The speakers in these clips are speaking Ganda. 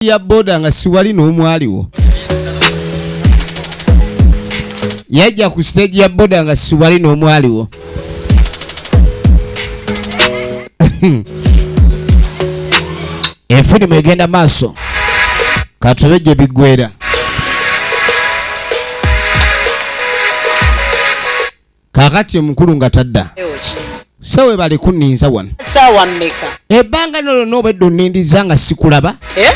emboozi ya boda nga siwali n'omwaliwo yajja ku siteegi ya boda nga siwali n'omwaliwo efirimu egenda maaso katube gye biggwera kakati omukulu nga tadda se webale kunninza wano ebbanga lino lyonna obwedda onnindiza nga sikulaba eh?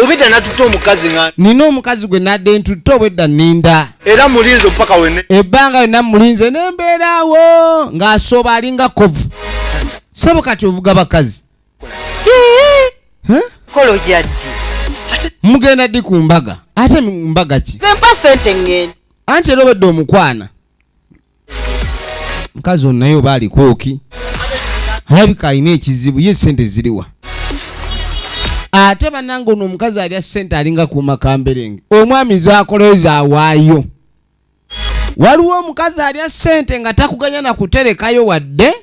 obedda natutte omukazi nga nina omukazi gwe nadde ntutte obwedda ninda era mulinze mpaka wene ebbanga lyonna mulinze nembeeraawo ng'asooba alinga kovu sebo kati ovuga bakazi kolo gyaddi mugenda ddi ku mbaga ate mbaga ki empa sente ngende anti era obedde omukwana mukazi ono naye oba alikooki alabika alina ekizibu ye sente ziriwa ate banange ono omukazi alya sente alinga kuuma kamberenge omwami zakolayo zawaayo waliwo omukazi alya sente nga takuganya nakuterekayo wadde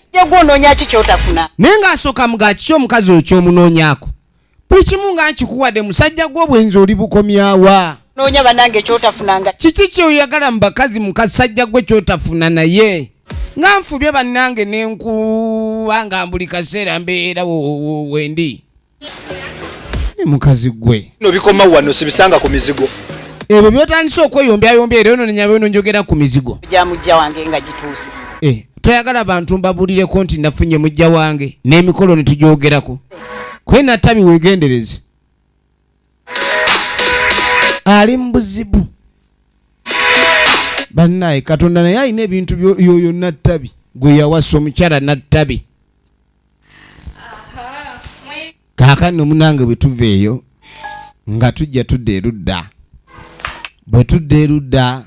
naye nga asooka mugakiki omukazi oyo kyomunoonyako buli kimu nga nkikuwadde musajja gwe obwenzi oli bukomyawa nonya banange kyotafunanga kiki kyoyagala mu bakazi mukasajja gwe kyotafuna naye nga nfubye bannange nenkuba nga mbuli kaseera mbeera wendi mukazi gwe no bikoma wano sibisanga ku mizigo ebyo byotandise okweyombyayomby era ononenyabyononjogera ku mizigo ja mujja wange nga gituuse eh, toyagala bantu mbabulireko nti nafunye mujja wange n'emikolo ne tugyogerako kwena tabi wegendereze ali mu buzibu bannaye katonda naye alina ebintu yoyo nattabi gwe yawasa omukyala nattabi kaakani nomunange bwe tuva eyo nga tujja tudda erudda bwe tudda erudda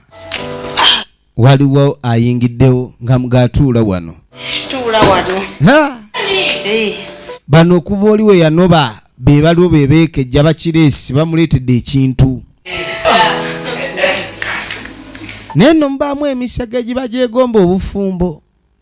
waliwo ayingiddewo nga mugatuula wano tuula wano bano okuva oli we yanoba be baliwo be beekejja bakireesi bamuleetedde ekintu naye nomubaamu emisege giba gyegomba obufumbo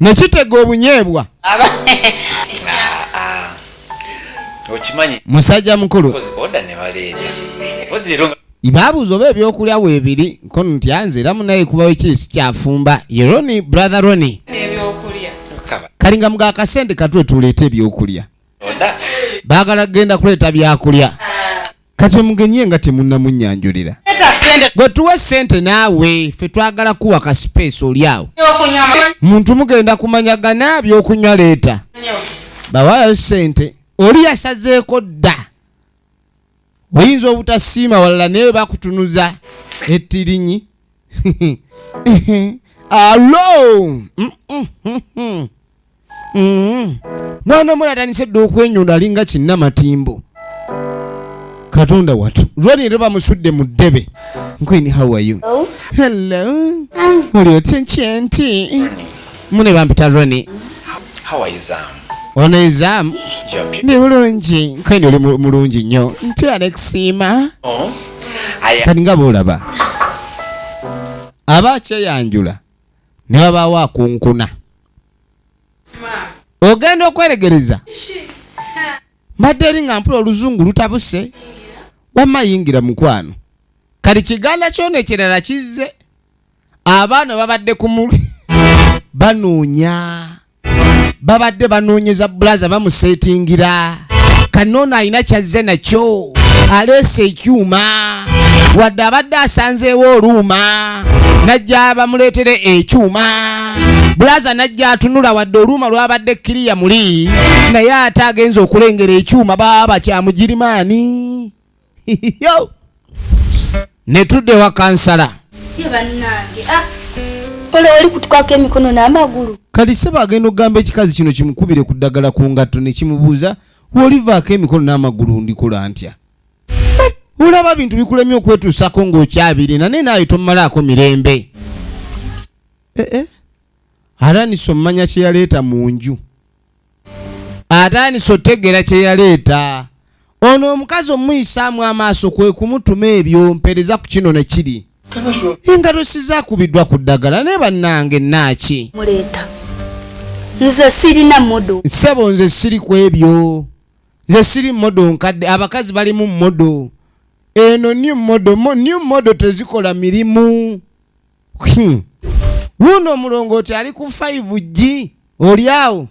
ne kitega obunyeebwa okimanyi musajja mukulu baabuuza oba ebyokulya weebiri nkono nti anze era munaye kuba wekiri sikyafumba ye roni brother roni kalinga mugakasente katwe tuleete ebyokulya baagala kugenda kuleeta byakulya kati omugenyi nga temunnamunyanjulira gwe tuwe sente naawe fe twagala kuwa ka sipeesi oli awo muntu mugenda kumanyagana byokunywa leeta bawayo sente oli yasazeeko dda oyinza obutasiima walala naye bakutunuza ettirinyi alo mwana mwana atandise dda okwenyonda alinga kinnamatimbo katonda watu lwali era bamusudde mu ddebe nkwini hawayo hello oli otya nkyenti mune bampita roni ono ezaamu ndi bulungi nkaini oli mulungi nnyo nti alexima oh, kati nga boolaba aba akyeyanjula ne babaawo akunkuna ogenda okweregereza mbadde eri nga mpula oluzungu lutabuse wamma yingira mukwano kati kiganda kyona ekirala kizze abaana babadde ku mu banoonya babadde banoonyeza bulaza bamuseetingira kanoono alina kyazze nakyo aleese ekyuma wadde abadde asanzeewo oluuma najja bamuleetere ekyuma bulaza najja atunula wadde oluuma lwabadde kiriya muli naye ate agenza okulengera ekyuma baaba kyamugirimaani yo netudde wa kansala ah. kati seba agenda okugamba ekikazi kino kimukubire ku ddagala ku ngatto ne kimubuuza wolivaako emikono n'amagulu ndikola ntya olaba bintu bikulemye okwetuusako ng'okyabirina naye naayo tomumalaako mirembe eh, eh. aranisa omumanya kye yaleeta mu nju atandise otegeera kye yaleeta ono omukazi omuyisaamu amaaso kwe kumutuma ebyo mpereza ku kino ne kiri engalo sizakubiddwa ku ddagala naye bannange naaki muleeta nze sirina modo ssebo nze siri ku ebyo nze siri modo nkadde abakazi balimu modo eno new modo new modo tezikola mirimu Hmm. wuuno omulongooti ali ku 5 g oli awo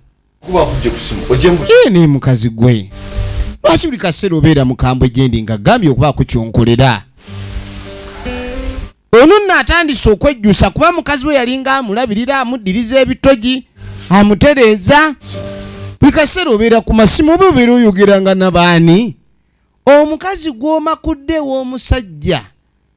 naye mukazi gwe lwaki buli kaseera obeera mukambwe gyendi nga gambye okuba kukyonkolera ono nno atandise okwejjusa kuba mukazi we yalinga amulabirira amuddiriza ebitogi amutereeza buli kaseera obeera ku masimu oba obeera oyogeranga nabaani omukazi gwomakudde ew'omusajja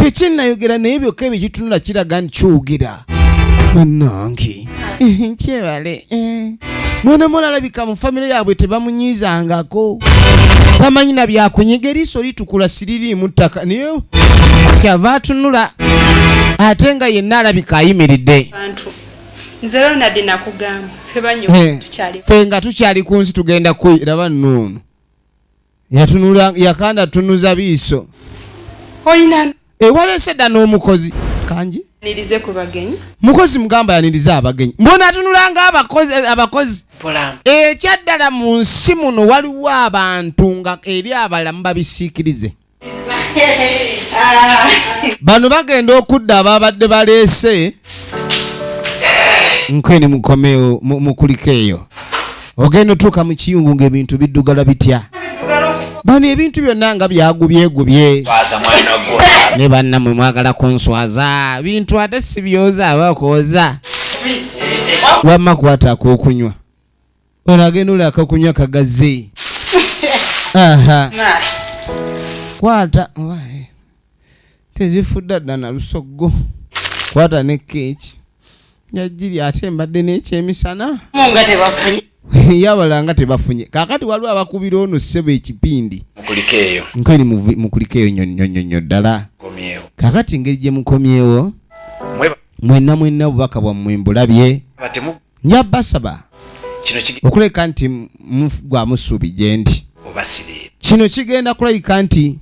tekinnayogera naye byokka ebyo kitunula kiraga nti kyogera bannange kyebale eh. mwana mwana alabika mu famire yaabwe tebamunyizangako tamanyi na byakunyiga eriiso litukula siririimu ttaka naye kyava atunula ate nga yenna alabika ayimiridde nze ronald nakugamba fe eh, nga tukyali ku nsi tugenda kwiraba noono yatunula yakanda tunuza biiso oyina ewalese dda n'omukozi kangi nirize ku bagenyi mukozi mugamba yanirize abagenyi mbona atunula nga abakozi abakozi ekyaddala mu nsi muno waliwo abantu nga eri abalamu babisiikirize bano bagenda okudda ababadde baleese nkweni mukomewo mukulikeeyo ogenda otuuka mu kiyungu ng'ebintu biddugala bitya bano ebintu byonna nga byagubyegubye ne banna mwe mwagala kunswaza bintu ate sibyoza abakwoza wamma kwataaka okunywa Ono agenda oli akakunywa kagazze. Aha. Kwata. Why? Tezifudda dda na lusoggo. Kwata ne keeki. Yajjiri ate mbadde n'ekyemisana. Munga tebafunye. Yabala nga tebafunye. Kakati waliwo abakubira ono ssebo ekipindi. Mukulikeeyo. Nkweri mukulikeeyo nyo nyo nyo nyo ddala. Komyewo. Kakati ngeri gye mukomyewo. Mwenna mwenna bubaka bwammwe mbulabye. Batemu. nja basaba okuleka nti mugwamu ssuubi gye ndi kino kigenda kulabika nti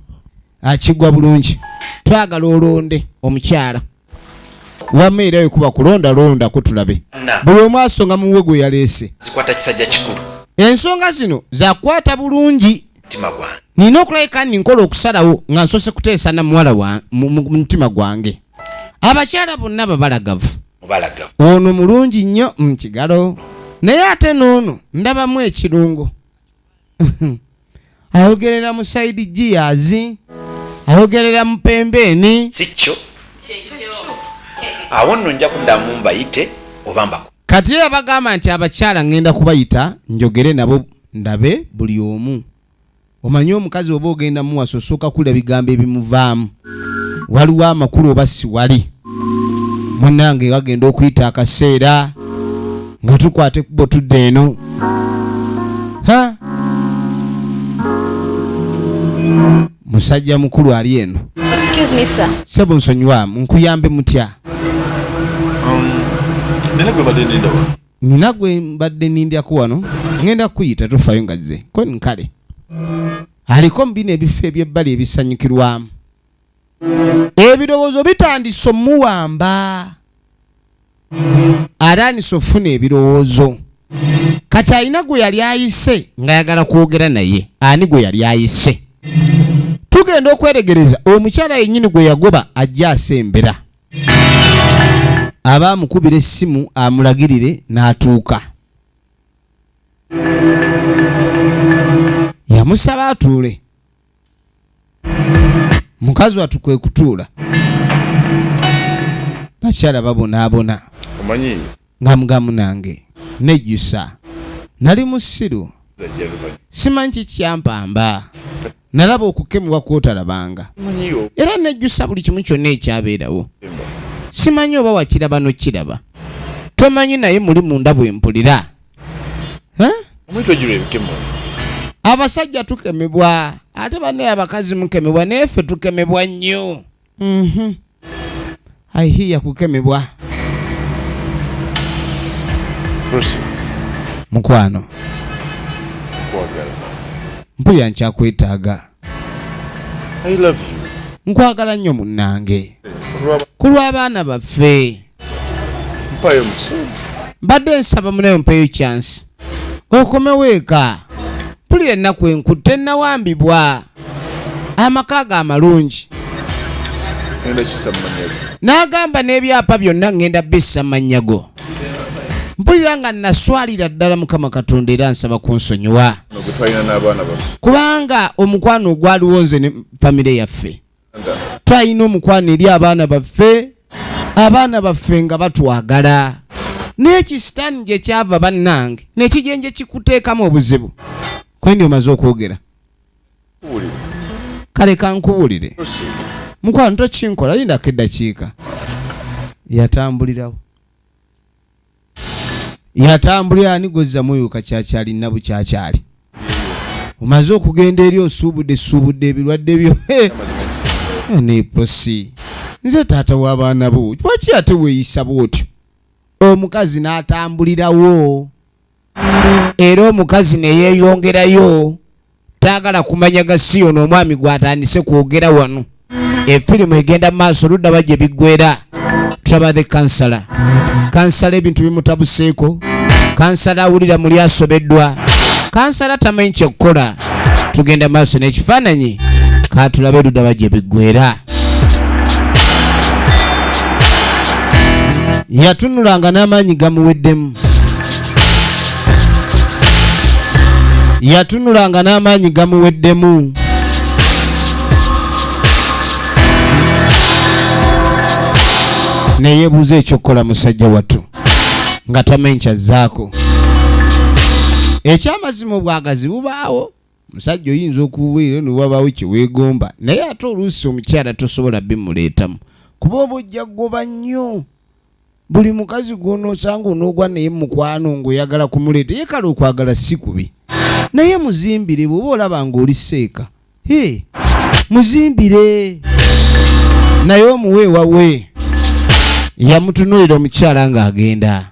akigwa bulungi twagala olonde omukyala wama era wekuba kulonda londa kutulabe buli omu asonga muwe gwe yaleese ensonga zino zakwata bulungi nina okulabika ndi nkola okusalawo nga nsose kuteesa na muwala mu mutima gwange abakyala bonna babalagavu ono mulungi nnyo mu kigalo naye ate n'ono ndabamu ekirungo ayogerera mu saidi giyazi ayogerera mu pembeeni sikyo awo nno nja kuddamu mbayite oba mbako kati era bagamba nti abakyala ŋŋenda kubayita njogere nabo ndabe buli omu omanyi omukazi oba ogenda muwasa osooka kula bigambo ebimuvaamu waliwo amakulu oba siwali munange wagenda okuyita akaseera nga tukwata ekubo tudde eno ha musajja mukulu ali eno sebo nsonyiwa nkuyambe mutya um, nina gwe mbadde nindyako wano ngenda kukuyita tofayo nga zze ko nkale aliko mubino ebifo ebyebbali ebisanyukirwamu ebirowoozo bitandise omuwamba atandise okufuna ebirowoozo kati alina gwe yali ayise ngayagala kwogera naye ani gwe yali ayise tugenda okweregereza omukyala yennyini gwe yagoba ajja asembera aba amukubira essimu amulagirire n'atuuka yamusaba atuule mukazi watu kwe kutuula bakyala babonaabona nga mga munange nejjusa nali musiru simanyi kikyampamba nalaba okukemebwa kwotalabanga era nejjusa buli kimu kyonna ekyabeerawo simanyi oba wakiraba nokiraba tomanyi naye muli munda bwempulira abasajja tukemebwa ate banaye abakazi mukemebwa naye ffe tukemebwa nnyo Mhm. I hear kukemebwa Proceed. mukwano Kwagala. mpuya nkyakwetaaga I love you. nkwagala nnyo munnange Kulwa- ku lw'abaana baffe mpayo musuubi mbadde nsaba munayo mpeyo kyansi okomewo eka mpulira ennaku enkutte nnawambibwa amaka ga amalungi n'agamba n'ebyapa byonna ŋŋenda bissa mannya go mpulira nga naswalira ddala mukama katonda era nsaba kunsonyiwa kubanga omukwano ogwaliwo nze ne famire yaffe twalina omukwano eri abaana baffe abaana baffe nga batwagala naye kisitaani gye kyava bannange nekigenje kikuteekamu obuzibu kwendi omaze okwogera kale kankubulire mukwano tokinkola lindako eddakiika yatambulirawo yatambulira ani gwezza muyuka kyakyali nabu kyakyali omaze okugenda eri osuubudde suubudde ebirwadde byo neprosi nze taata w'abaana bo lwaki ate weeyisa bwotyo omukazi n'atambulirawo era omukazi ne yeeyongerayo taagala kumanya gasi yono omwami gw'atandise kwogera wano efirimu egenda mu maaso luddaba gye biggwera traba the kansala kansala ebintu bimutabuseeko kansala awulira muli asobeddwa kansala tamanyi kyekukola tugenda maaso n'ekifaananyi katulabe luddaba gye biggwera yatunula nga n'amaanyi gamuweddemu yatunula nga n'amaanyi gamuweddemu neyebuuza ekyokukola musajja wattu nga tamanyi kyazzaako ekyamazima obwagazi bubaawo omusajja oyinza okubeera ne wabaawo kye weegomba naye ate oluusi omukyala tosobola bimuleetamu kuba oba ojja goba nnyo buli mukazi gw'onoosanga onoogwa naye mukwano ng'oyagala kumuleeta ye kale okwagala si kubi naye muzimbire bw'oba olaba ng'oli seeka e muzimbire naye omuwe wawe yamutunuulira omukyala ng'agenda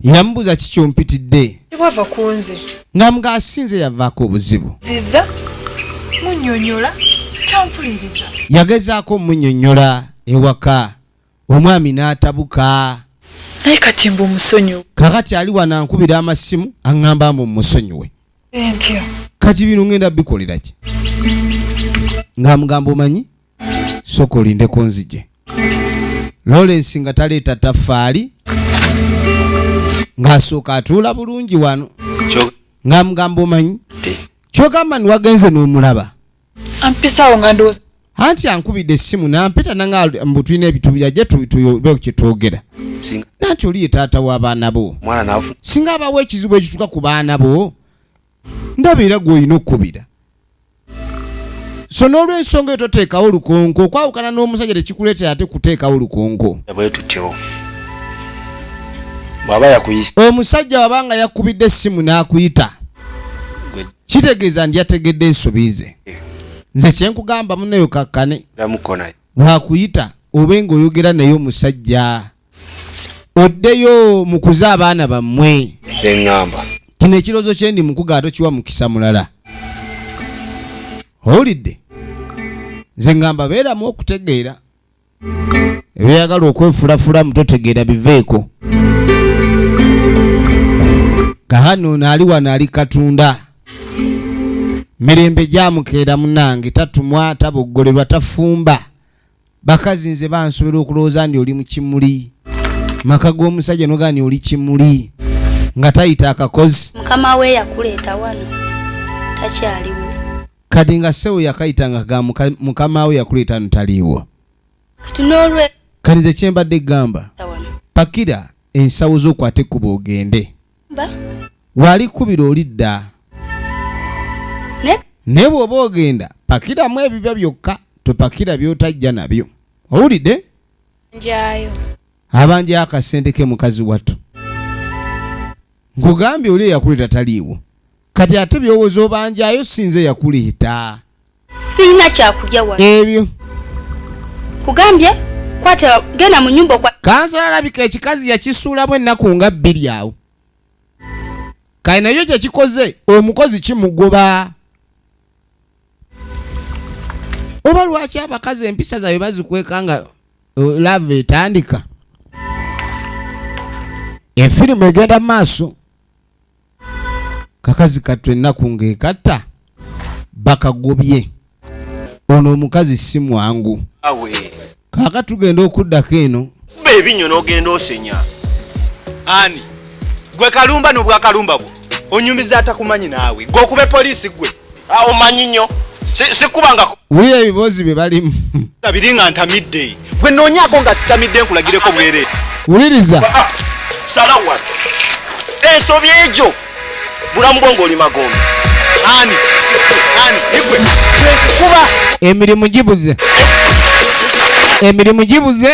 yamubuuza ki kyompitidde tewava ku nze nga mga asinze yavaako obuzibu ziza munyonyola tampuliriza yagezaako omunyonyola ewaka omwami n'atabuka naye kati mbu omusonyiwe kakati ali wano ankubira amasimu aŋŋamba mbu mmusonyiwe ntya kati bino ŋŋenda bikoleraki nga mugamba omanyi sooka olindeko nzije lawrence nga taleeta taffaali ng'asooka atuula bulungi wano ng'amugamba omanyi kyogamba niwagenze n'omulaba ampisawo nga ndowooza anti ankubidde essimu nampita nanga mbu tulina ebitubira gye tube kyetwogera nanti oli ye taata w'abaana bo singa abawo ekizibu ekituuka ku baana bo ndaba era gw'olina okukubira so n'olwensonga eyo toteekawo lukonko okwawukana n'omusajja tekikuleetera ate kuteekawo lukonko bwe tutyo bwaba yakuyisa omusajja waba nga yakubidde essimu n'akuyita kitegeeza ndi yategedde ensobi ze nze kyenkugamba munayo kakkane wakuyita obe nga oyogera naye omusajja oddeyo mukuze abaana bammwe zeŋŋamba kino ekiroozo kye ndi mukuga ate okiwa mukisa mulala owulidde nze ngamba beeramu okutegeera ebyeyagala okwefulafulamu totegeera biveeko kahano naali wano ali katunda mirembe gyamukeera munange tatumwa taboggolerwa tafumba bakazi nze bansobera okulowooza ndi oli mukimuli maka g'omusajja nogani oli kimuli nga tayita akakozi mukama we yakuleeta wano takyaliwo kati nga sewo yakayita nga ga mukama we yakuleeta notaliiwo kati nolwe kati nze kyembadde gamba pakira ensawo z'okwate kuba ogende wali kubira olidda naye bw'oba ogenda pakiramu ebibya byokka topakira by'otajja nabyo owulidde abanja akasente ke mukazi wattu nkugambye oli eyakuleeta taliiwo kati ate byowoza obanjayo sinze yakuleeta sirina kyakulya wa ebyo kugambye kwata genda mu nyumba okwa kansala alabika ekikazi yakisuulamu ennaku nga bbiri awo kale nakyo kyekikoze omukozi kimugoba oba lwaki abakazi empisa zaabwe bazikweka nga uh, lava etandika efirimu egenda mu maaso kakazi kattu ennaku ng'ekatta bakagobye ono omukazi si mwangu kaaka tugenda okuddako eno bebinyo nogenda osenya ani gwe kalumba nobwakalumba bwo onyumiza atakumanyi naawe gwe okuba epoliisi gwe awo manyi nyo sikubangako wulira ebiboozi bye balimu nabiri nga ntamidde gwe noonyako nga sitamidde nkulagireko bwere wuliriza ah, ah, salawa ensobi egyo bulamu bwo ngaoli magombe ani ani emirimu gibuze emirimu gibuze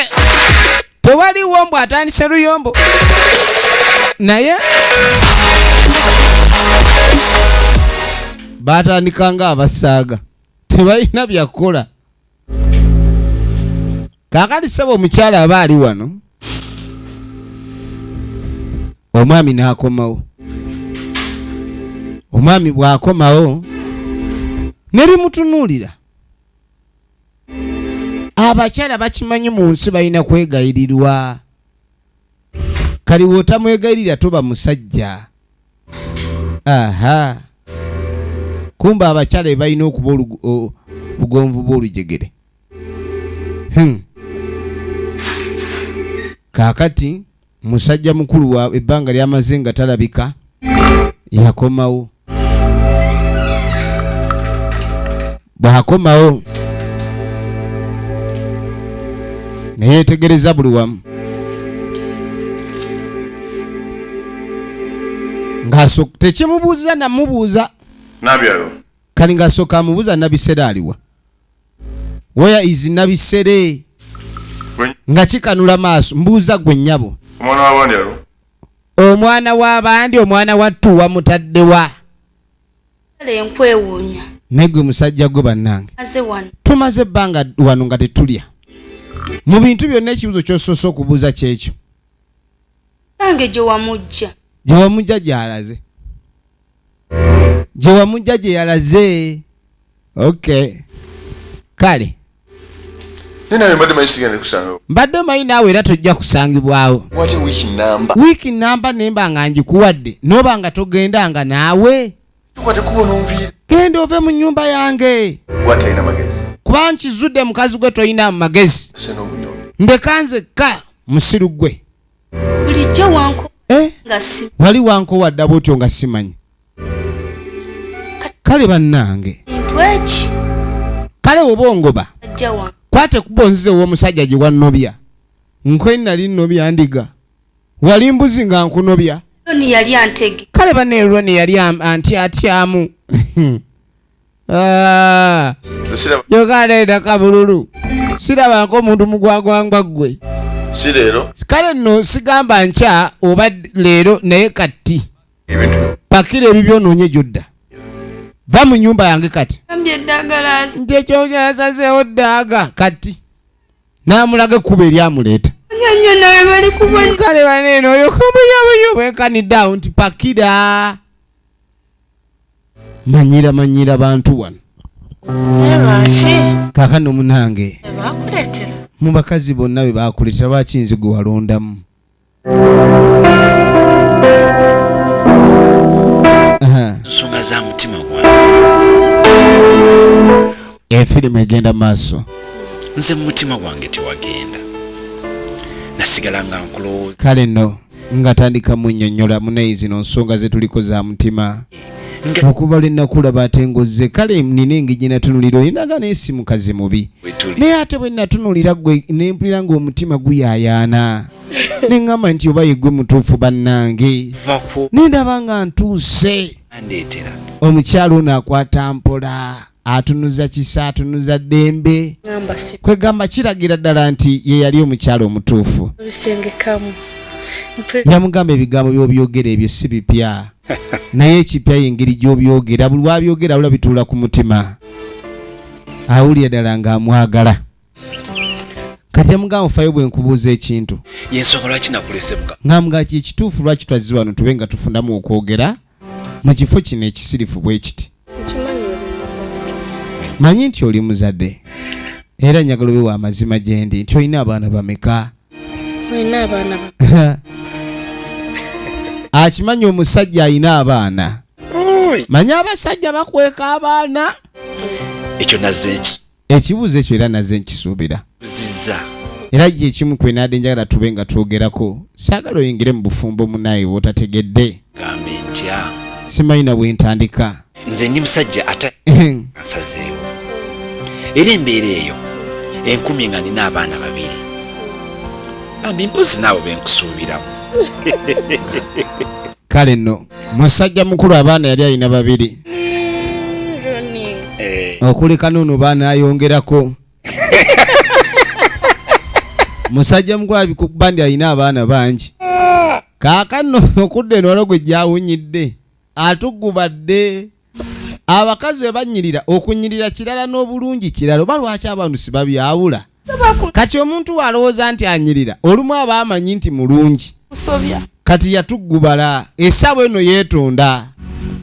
tewaliwo mbu atandise luyombo naye baatandika nga abasaaga tebalina byakukola kakati saba omukyala aba ali wano omwami n'akomawo omwami bw'akomawo ne bimutunuulira abakyala bakimanyi mu nsi balina kwegayirirwa kali wotamwegayirira toba musajja aha kumba abakyala bebalina okuba obugonvu bwolujegere hmm. kakati musajja mukulu wa ebbanga lyamaze nga talabika yakomawo bwakomawo neyetegereza buli wamu ngaso tekimubuuza namubuuza nabyalo kali ngasoka amubuuza nabiseera aliwa where is nabisere nga kikanula maaso mbuuza gwe nyabo omwana w'abandi omwana wattu wamutaddewa enkwewuunya negwe musajja gwe bannange tumaze ebbanga wano nga tetulya mu bintu byonna ekibuzo kyosoose okubuuza kyekyo nange gyewamujja gyewamujja gyalaze gyewamujja gye yalaze ok kale mbadde omanyi naawe era tojja kusangibwawo wiiki namba nemba nga ngikuwadde noba nga togenda nga naawe genda ove mu nyumba yange kuba nkizudde mukazi gwe tolina mu magezi ndeka nzekka musiru gwe eh? wali wankowa dda bwotyo nga simanyi kale bannange kale woba ongoba kwate kuba onzize ew'omusajja gye wannobya nkwe nali nnobya ndiga wali mbuzi nga nkunobya kale banne erone yali antyatyamu Ah, Nze siraba kyoka aleeta kabululu sirabanko omuntu mugwagwangwa ggwe si leero kale nno sigamba nkya oba d- leero naye kati ebintu pakira ebyo byonoonye gyodda va mu nyumba yange kati Gambye eddagala as- nti ekyo kyasazeewo ddaaga kati n'amulaga ekkubo eryamuleeta nya nnyo nawe bali kubona kale baneeno olyoka muyabuyuba ekanidde awo nti pakira manyira manyira bantu wano kakano munange mu bakazi bonna be bakuletera lwaki nze gwe walondamu nsonga za mutima gwange efirimu eh, egenda maaso nze mu mutima gwange tewagenda nasigala nga nkulowooza kale no ng'atandika munnyonnyola munaye zino nsonga ze tuliko za mutima okuva lwe nakulaba ate ng'ozze kale nina engeri gye natunulira olinaga naye si mukazi mubi naye ate bwe natunulira gwe ne mpulira ng'omutima guyaayaana ne ŋŋamba nti oba yegwe mutuufu bannange ne ndaba nga ntuuse omukyala ono akwata mpola atunuza kisa atunuza ddembe kwegamba kiragira ddala nti ye yali omukyalo omutuufu yamugamba ebigambo byobyogera ebyo si bipya naye ekipya yengeri gyobyogera buli wabyogera wula bituula ku mutima awulira ddala nga amwagala kati yamugamba fayo bwe nkubuuza ekintu yensonga lwaki nakulesemuka ngamuga ki ekituufu lwaki twazzi wano tube nga tufunamu okwogera mu kifo kino ekisirifu bwe kiti manyi nti oli muzadde era njagala obe wa mazima gyendi nti olina abaana bameka akimanyi omusajja alina abaana manyi abasajja bakweka abaana ekyo nazeki ekibuuzo ekyo era naze nkisuubira era ye ekimu kwe naade njagala tube nga twogerako saagala oyingire mu bufumbo munaye wotategedde simanyi na bwentandika nze ndi musajja ate nsazeewo era embeera eyo enkumye nga nina abaana babiri bambi mpozi naabo benkusuubiramu kale no musajja mukulu abaana yali alina babiri eh. okuli kanunu baana ayongerako musajja mukulu alikuba ndi alina abaana bangi kaakano okudda enwalo gwe gyawunyidde atugubadde abakazi bwe bannyirira okunnyirira kirala n'obulungi kirala oba lwaki abantu sibabyawula kati omuntu waalowooza nti anyirira olumu aba amanyi nti mulungi kati yatuggubala esaawa eno yeetonda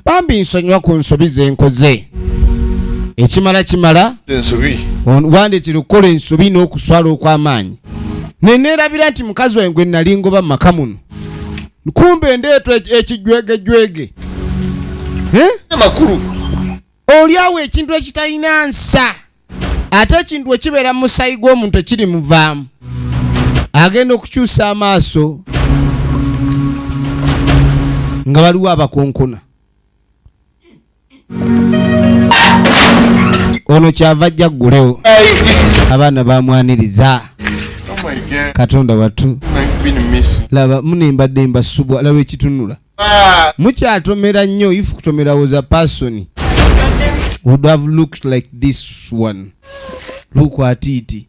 bambi nsonyiwa ku nsobi zenkoze ekimala kimala wandetera okukola ensobi n'okuswala okw'amaanyi neneerabira nti mukazi wange gwe nali ngoba mu maka muno kumbe ndeeto ekijwegejwege amakulu olyawo ekintu ekitalina nsa ate ekintu ekibeera mu musayi gw'omuntu ekiri muvaamu agenda okukyusa amaaso nga waliwo abakonkona ono kyava ajja ggulewo abaana bamwaniriza katonda watu laba munembadde mbasubwa laba ekitunula ah. mukyatomera nnyo if kutomerawo za pasoni would have looked like this one lukwatiiti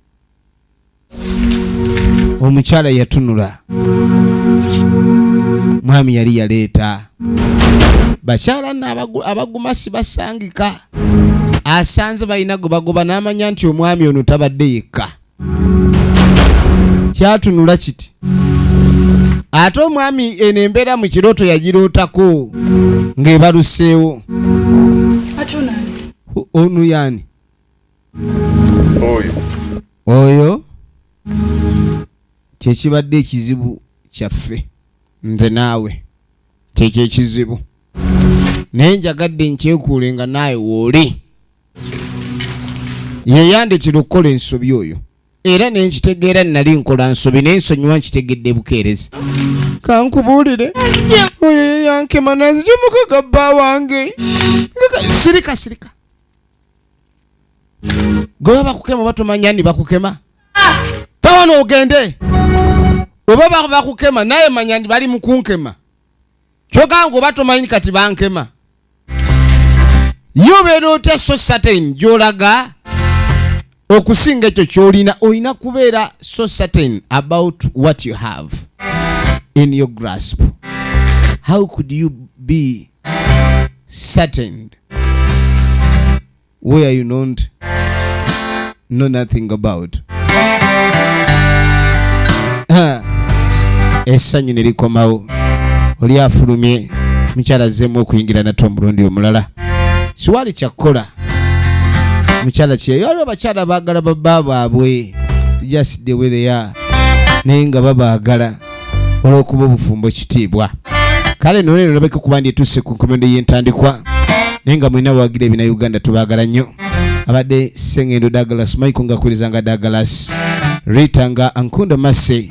omukyala yatunula mwami yali yaleeta bakyala na abaguma sibasangika asanze balina gwe bagoba n'amanya nti omwami ono tabadde yekka kyatunula kiti ate omwami eno embeera mu kirooto yagirootako ng'ebaluseewo ono yani oyo oyo kyekibadde ekizibu kyaffe nze naawe kyekyo ekizibu naye njagadde nkyekuule nga naawe wooli yeyandetera okukola ensobi oyo era nenkitegeera nali nkola nsobi naye nsonyiwa nkitegedde bukeerezi kankubuulire oyo yeyankema nazijemukaga bba wange sirika sirika gwe bakukema oba tomanya ni bakukema tawona ogende oba bakukema naye manya ni bali mukunkema kyogaa nga oba tomanyi kati bankema yo beera otya so satain gyolaga okusinga ekyo kyolina olina kubeera so certain about what you have in your grasp how could you be certain where you don't know nothing about essanyu ne likomawo oli afulumye mukyala zzeemu okuyingira nate omulundi omulala siwali kyakkola mukyala kyeyo aliwo abakyala baagala baba baabwe just the way they are naye nga babaagala olw'okuba obufumbo kitiibwa kale nolero olabeka okuba ndi etuuse ku nkomendo y'entandikwa naye nga mulina wagira ebina uganda tubaagala nnyo abadde sengendo dagalas maiko nga kuwulizanga dagalas rita nga ankunda masse